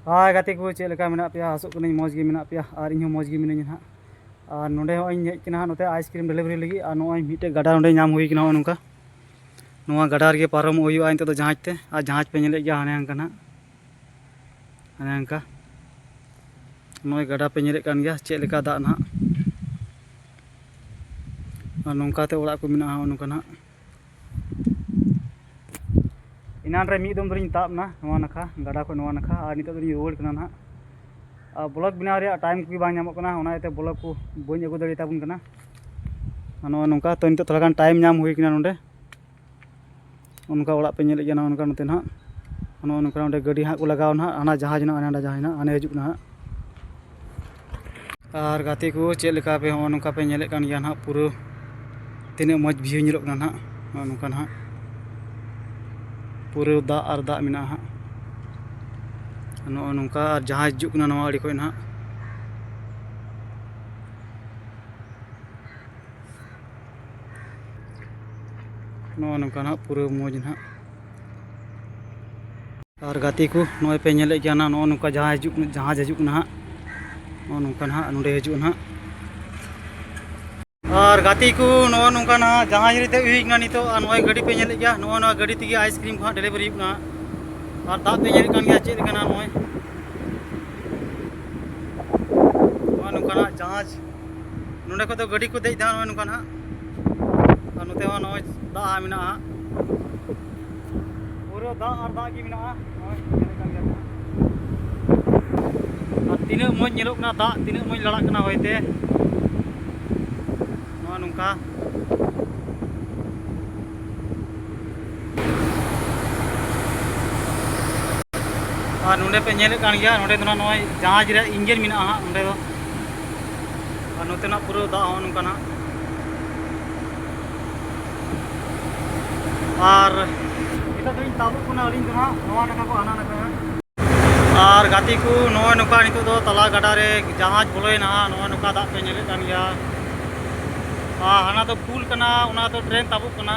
ᱦᱳᱭ ᱜᱟᱛᱮ ᱠᱚ ᱪᱮᱫ ᱞᱮᱠᱟ ᱢᱮᱱᱟᱜ ᱯᱮᱭᱟ ᱟᱥᱚᱜ ᱠᱟᱹᱱᱟᱹᱧ ᱢᱚᱡᱽ ᱜᱮ ᱢᱮᱱᱟᱜ ᱯᱮᱭᱟ ᱟᱨ ᱤᱧᱦᱚᱸ ᱢᱚᱡᱽ ᱜᱮ ᱢᱤᱱᱟᱹᱧᱟ ᱦᱟᱸᱜ ᱟᱨ ᱱᱚᱰᱮ ᱦᱚᱸ ᱤᱧ ᱦᱮᱡ ᱠᱟᱱᱟ ᱦᱟᱸᱜ ᱱᱚᱛᱮ ᱟᱭᱤᱥᱠᱨᱤᱢ ᱰᱮᱞᱤᱵᱷᱟᱨᱤ ᱞᱟᱹᱜᱤᱫ ᱟᱨ ᱱᱚᱜᱼᱚᱭ ᱢᱤᱫᱴᱮᱡ ᱜᱟᱰᱟ ᱱᱚᱰᱮ ᱧᱟᱢ ᱦᱩᱭ ᱠᱟᱱᱟ ᱱᱚᱝᱠᱟ ᱱᱚᱣᱟ ᱜᱟᱰᱟ ᱨᱮᱜᱮ ᱯᱟᱨᱚᱢᱚᱜ ᱦᱩᱭᱩᱜᱼᱟ ᱱᱤᱛᱚᱜ ᱫᱚ ᱡᱟᱦᱟᱡᱽ ᱛᱮ ᱟᱨ ᱡᱟᱦᱟᱡᱽ ᱯᱮ ᱧᱮᱞᱮᱫ ᱜᱮᱭᱟ ᱦᱟᱱᱮ ᱦᱟᱱᱠᱟ ᱦᱟᱸᱜ ᱦᱟᱱᱮ ᱦᱟᱱᱠᱟ ᱱᱚᱜᱼᱚᱭ ᱜᱟᱰᱟ ᱯᱮ ᱧᱮᱞᱮᱫ ᱠᱟᱱ ᱜᱮᱭᱟ ᱪᱮᱫ ᱞᱮᱠᱟ ᱫᱟᱜ ᱱᱟᱦᱟᱜ ᱟᱨ ᱱᱚᱝᱠᱟᱛᱮ ᱚᱲᱟᱜ ᱠᱚ ᱢᱮᱱᱟᱜᱼᱟ ᱱᱚᱜᱼᱚ ᱱᱚᱝᱠᱟ ᱱᱟᱦᱟᱜ ᱮᱱᱟᱱ ᱨᱮ ᱢᱤᱫ ᱫᱚᱢ ᱫᱚᱞᱤᱧ ᱛᱟᱵ ᱮᱱᱟ ᱱᱚᱣᱟ ᱱᱟᱠᱷᱟ ᱜᱟᱰᱟ ᱠᱷᱚᱱ ᱱᱚᱣᱟ ᱱᱟᱠᱷᱟ ᱟᱨ ᱱᱤᱛᱚᱜ ᱫᱚᱞᱤᱧ ᱨᱩᱣᱟᱹᱲ ᱠᱟᱱᱟ ᱱᱟᱦᱟᱜ ᱟᱨ ᱵᱞᱚᱜ ᱵᱮᱱᱟᱣ ᱨᱮᱭᱟᱜ ᱴᱟᱭᱤᱢ ᱠᱚᱜᱮ ᱵᱟᱝ ᱧᱟᱢᱚᱜ ᱠᱟᱱᱟ ᱚᱱᱟ ᱤᱭᱟᱹᱛᱮ ᱵᱞᱚᱜ ᱠᱚ ᱵᱟᱹᱧ ᱟᱹᱜᱩ ᱫᱟᱲᱮ ᱛᱟᱵᱚᱱ ᱠᱟᱱᱟ ᱟᱨ ᱱᱚᱜᱼᱚᱭ ᱱᱚᱝᱠᱟ ᱛᱚ ᱱᱤᱛᱚᱜ ᱛᱷᱚᱲᱟ ᱜᱟᱱ ᱴᱟᱭᱤᱢ ᱧᱟᱢ ᱦᱩᱭ ᱠᱟᱱᱟ ᱱᱚᱰᱮ ᱚᱱᱠᱟ ᱚᱲᱟᱜ ᱯᱮ ᱧᱮᱞᱮᱫ ᱜᱮᱭᱟ ᱱᱚᱜᱼᱚ ᱱᱚᱝᱠᱟ ᱱᱚᱛᱮ ᱱᱟᱦᱟᱜ ᱱᱚᱜᱼᱚ ᱱᱚᱝᱠᱟ ᱱᱚᱰᱮ ᱜᱟᱹᱰᱤ ᱦᱟᱸᱜ ᱠᱚ ᱞᱟᱜᱟᱣ ᱱᱟᱦᱟᱜ ᱦᱟᱱᱟ ᱡᱟᱦᱟᱡᱽ ᱱᱟᱦᱟᱜ ᱦᱟᱱᱮ ᱦᱟᱸᱰᱮ ᱡᱟᱦᱟᱡᱽ ᱱᱟᱦᱟᱜ ᱦᱟᱱᱮ ᱦᱤᱡᱩᱜ ᱠᱟᱱᱟ ᱦᱟᱸᱜ ᱟᱨ ᱜᱟᱛᱮ ᱠᱚ ᱪᱮᱫ ᱞᱮᱠᱟ ᱯᱮ ᱦᱚᱸᱜᱼᱚ ᱱᱚᱝᱠᱟ ᱯᱮ ᱧᱮᱞᱮᱫ ᱠᱟᱱ ᱜᱮᱭᱟ ᱱᱟᱦᱟᱜ ᱯᱩᱨᱟᱹ ᱛᱤᱱᱟᱹᱜ ᱢᱚᱡᱽ ᱵᱷᱤᱭᱩ ᱧᱮᱞᱚᱜ ᱠᱟᱱᱟ ᱱᱟᱦᱟᱜ ᱱᱚᱜᱼᱚ ᱱᱚᱝᱠᱟ ᱱᱟᱦᱟᱜ ᱯᱩᱨᱟᱹ ᱫᱟᱜ ᱟᱨ ᱫᱟᱜ ᱢᱮᱱᱟᱜᱼᱟ ᱦᱟᱸᱜ ᱱᱚᱜᱼᱚ ᱱᱚᱝᱠᱟ ᱟᱨ ᱡᱟᱦᱟᱸ ᱦᱤᱡᱩᱜ ᱠᱟᱱᱟ ᱱᱚᱣᱟ ᱟᱹᱰᱤ ᱠᱷᱚᱡ ᱱᱟᱦᱟᱜ ᱱᱚᱜᱼᱚ ᱱᱚᱝᱠᱟ ᱱᱟᱦᱟᱜ ᱯᱩᱨᱟᱹ ᱢᱚᱡᱽ ᱱᱟᱦᱟᱜ ᱟᱨ ᱜᱟᱛᱮ ᱠᱚ ᱱᱚᱜᱼᱚᱭ ᱯᱮ ᱧᱮᱞᱮᱫ ᱜᱮᱭᱟ ᱱᱟᱜ ᱱᱚᱜᱼᱚ ᱱᱚᱝᱠᱟ ᱡᱟᱦᱟᱸ ᱦᱤᱡᱩᱜ ᱡᱟᱦᱟᱡᱽ ᱦᱤᱡᱩᱜ ᱠᱟᱱᱟ ᱦᱟᱸᱜ ᱱᱚᱜᱼᱚ ᱱᱚᱝᱠᱟ ᱱᱟᱜ ᱱᱚᱸᱰᱮ ᱦᱤᱡᱩᱜᱼᱟ ᱱᱟᱜ ᱟᱨ ᱜᱟᱛᱮ ᱠᱚ ᱱᱚᱜᱼᱚ ᱱᱚᱝᱠᱟ ᱱᱟᱜ ᱡᱟᱦᱟᱡᱽ ᱨᱮ ᱫᱮᱡ ᱦᱩᱭ ᱠᱟᱱᱟ ᱱᱤᱛᱚᱜ ᱟᱨ ᱱᱚᱜᱼᱚᱭ ᱜᱟᱹᱰᱤ ᱯᱮ ᱧᱮᱞᱮᱫ ᱜᱮᱭᱟ ᱱᱚᱜᱼᱚ ᱱᱚᱣᱟ ᱜᱟᱹᱰᱤ ᱛᱮᱜᱮ ᱟᱭᱤᱥᱠᱨᱤᱢ ᱠᱚ ᱦᱟᱸᱜ ᱰᱮᱞᱤᱵᱷᱟᱨᱤ ᱦᱩᱭᱩᱜ ᱠᱟᱱᱟ ᱟᱨ ᱫᱟᱜ ᱯᱮ ᱧᱮᱞᱮᱫ ᱠᱟᱱ ᱜᱮᱭᱟ ᱪᱮᱫ ᱞᱮᱠᱟᱱᱟ ᱱᱚᱜᱼᱚᱭ ᱱᱚᱜᱼᱚ ᱱᱚᱝᱠᱟᱱᱟᱜ ᱡᱟᱦᱟᱡᱽ ᱱᱚᱰᱮ ᱠᱷᱚᱱ ᱫᱚ ᱜᱟᱹᱰᱤ ᱠᱚ ᱫᱮᱡ ᱫᱟ ᱱᱚᱜᱼᱚᱭ ᱱᱚᱝᱠᱟ ᱱᱟᱦᱟᱜ ᱟᱨ ᱱᱚᱛᱮ ᱦᱚᱸ ᱱᱚᱜᱼᱚᱭ ᱫᱟᱜ ᱢᱮᱱᱟᱜᱼᱟ ᱯᱩᱨᱟᱹ ᱫᱟᱜ ᱟᱨ ᱫᱟᱜ ᱜᱮ ᱢᱮᱱᱟᱜᱼᱟ ᱱᱚᱜᱼᱚᱭ ᱧᱮᱞᱮᱫ ᱠᱟᱱ ᱜᱮᱭᱟ ᱟᱨ ᱛᱤᱱᱟᱹᱜ ᱢᱚᱡᱽ ᱧᱮᱞᱚᱜ ᱠᱟᱱᱟ ᱫᱟᱜ ᱛᱤᱱᱟᱹᱜ ᱢᱚᱡᱽ ᱞᱟᱲᱟᱜ ᱠᱟᱱᱟ ᱦᱚᱭᱛᱮ ᱱᱚᱜᱼᱚᱭ ᱱᱚᱝᱠᱟ ᱟᱨ ᱱᱚᱰᱮ ᱯᱮ ᱧᱮᱞᱮᱫ ᱠᱟᱱ ᱜᱮᱭᱟ ᱱᱚᱰᱮ ᱫᱚ ᱱᱟᱜ ᱱᱚᱜᱼᱚᱭ ᱡᱟᱦᱟᱡᱽ ᱨᱮᱭᱟᱜ ᱤᱧᱡᱤᱱ ᱢᱮᱱᱟᱜᱼᱟ ᱦᱟᱸᱜ ᱱᱚᱰᱮ ᱫᱚ ᱟᱨ ᱱᱚᱛᱮᱱᱟᱜ ᱯᱩᱨᱟᱹ ᱫᱟᱜ ᱦᱚᱸ ᱱᱚᱝᱠᱟ ᱱᱟᱜ ᱟᱨ ᱱᱤᱛᱚᱜ ᱫᱚᱧ ᱛᱟᱵᱚᱜ ᱠᱟᱱᱟ ᱟᱹᱞᱤᱧ ᱫᱚ ᱱᱟᱜ ᱱᱚᱣᱟ ᱱᱟᱠᱷᱟ ᱠᱚ ᱦᱟᱱᱟ ᱱᱟᱠᱷᱟ ᱟᱨ ᱜᱟᱛᱮ ᱠᱚ ᱱᱚᱜᱼᱚᱭ ᱱᱚᱝᱠᱟ ᱱᱤᱛᱚᱜ ᱫᱚ ᱛᱟᱞᱟ ᱜᱟᱰᱟ ᱨᱮ ᱡᱟᱦᱟᱡᱽ ᱵᱚᱞᱚᱭᱮᱱᱟ ᱱᱚᱜᱼᱚᱭ ᱱᱚᱝᱠᱟ ᱫᱟᱜ ᱯᱮ ᱧᱮᱞᱮᱫ ᱠᱟᱱ ᱜᱮᱭᱟ ᱟᱨ ᱦᱟᱱᱟ ᱫᱚ ᱯᱩᱞ ᱠᱟᱱᱟ ᱚᱱᱟ ᱫᱚ ᱴᱨᱮᱱ ᱛᱟᱵᱚᱜ ᱠᱟᱱᱟ